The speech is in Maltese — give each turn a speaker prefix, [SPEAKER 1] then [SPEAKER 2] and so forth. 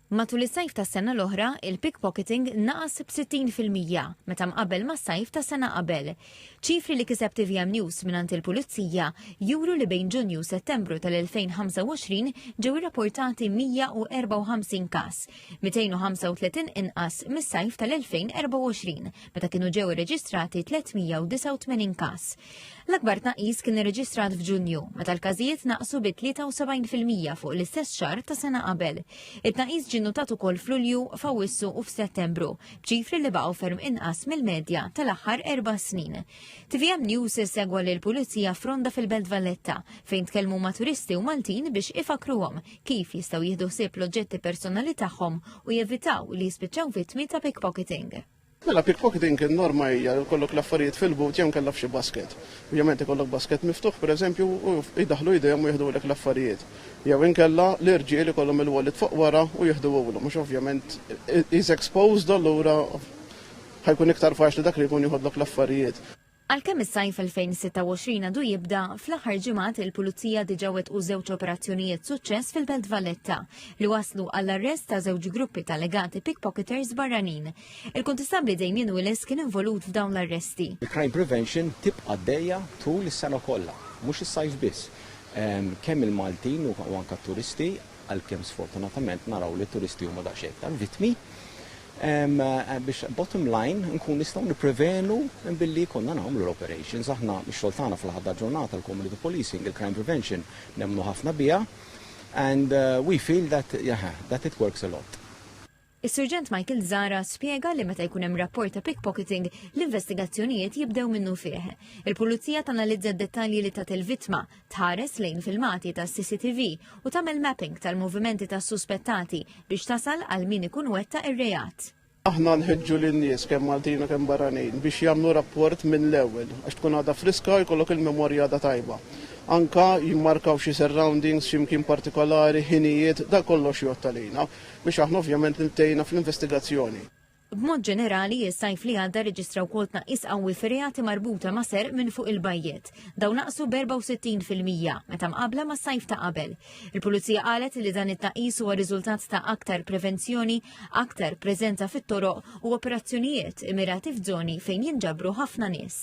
[SPEAKER 1] Matul is-sajf tas-sena l-oħra, il-pickpocketing naqas b'60 fil-mija meta mqabbel mas-sajf tas-sena qabel. Ċifri li kiseb tvm News mingħand il-Pulizija juru li bejn Ġunju u Settembru tal-2025 ġew irrapportati 154 każ, 235 inqas mis-sajf tal-2024 meta kienu ġew irreġistrati 389 każ. L-akbar tnaqqis kien irreġistrat f'Ġunju, meta l-każijiet naqsu bi 73% fuq l-istess xahar ta' sena qabel. It-tnaqqis ġie notat ukoll f'Lulju, f'Awwissu u f'Settembru, b'ċifri li baqgħu ferm inqas mill-medja tal-aħħar erba' snin. TVM News segwa lil pulizija fronda fil-Belt Valletta fejn tkellmu ma' turisti u Maltin biex ifakruhom kif jistgħu jieħdu ħsieb l-oġġetti personali tagħhom u jevitaw li jispiċċaw vittmi ta' pickpocketing. Mela pickpocketing
[SPEAKER 2] in-norma hija li jkollok l-affarijiet fil-but jew inkella f'xi basket. Ovvjament ikollok basket miftuħ pereżempju u jdaħħlu jdejhom u jiħdulek l-affarijiet. Jew inkella l-irġiel ikollhom il-wallet fuq wara u jiħduhulhom għax ovvjament he's exposed allura ħa jkun iktar faċli dak li jkun jiħodlok l-affarijiet. Għalkemm is-sajf
[SPEAKER 1] 2026 għadu jibda, fl-aħħar ġimgħat il-Pulizija diġà wettqu żewġ operazzjonijiet suċċess fil-Belt Valletta li wasslu għall-arrest ta' żewġ gruppi ta' allegati pickpocketers barranin. Il-Kuntistabbli Damien Willis kien involut f'dawn l-arresti. Il-crime prevention
[SPEAKER 3] tibqa' għaddejja tul is-sena kollha, mhux is-sajf biss. Kemm il-Maltin u anke t-turisti għalkemm sfortunatament naraw li t-turisti huma daqsxejn iktar vittmi, biex bottom line nkun nistgħu nipprevenu billi jkollna nagħmlu l-operations. Aħna x-xogħol tagħna fl-aħħar tal-ġurnata l-community policing, il-crime prevention nemmnu ħafna biha and we feel that it works a lot. Is-Surġent
[SPEAKER 1] Michael Zara spjega li meta jkun hemm rapport ta' pickpocketing, l-investigazzjonijiet jibdew minnu fih. Il-Pulizija tanalizza d-dettalji li tat il-vittma, tħares lejn filmati tas-CCTV u tagħmel mapping tal-movimenti tas-suspettati biex tasal għal min ikun wettaq ir-reat. Aħna nħeġġu
[SPEAKER 2] lin-nies kemm Maltin u kemm barranin biex jagħmlu rapport mill-ewwel għax tkun għadha friska u jkollok il-memorja għadha tajba. Anke jimmarkaw xi surroundings, xi mkien partikolari, ħinijiet, dan kollox jgħodd għalina. biex aħna ovvjament intejna fl-investigazzjoni. B'mod
[SPEAKER 1] ġenerali, is-sajf li għadda rreġistra wkoll tnaqqis qawwi fir-reati marbuta ma' serq minn fuq il-bajjiet. Dawn naqsu b'64 fil-mija meta mqabbla mas-sajf ta' qabel. Il-Pulizija qalet li dan it-tnaqqis huwa riżultat ta' aktar prevenzjoni, aktar preżenza fit-toroq u operazzjonijiet immirati f'żoni fejn jinġabru ħafna nies.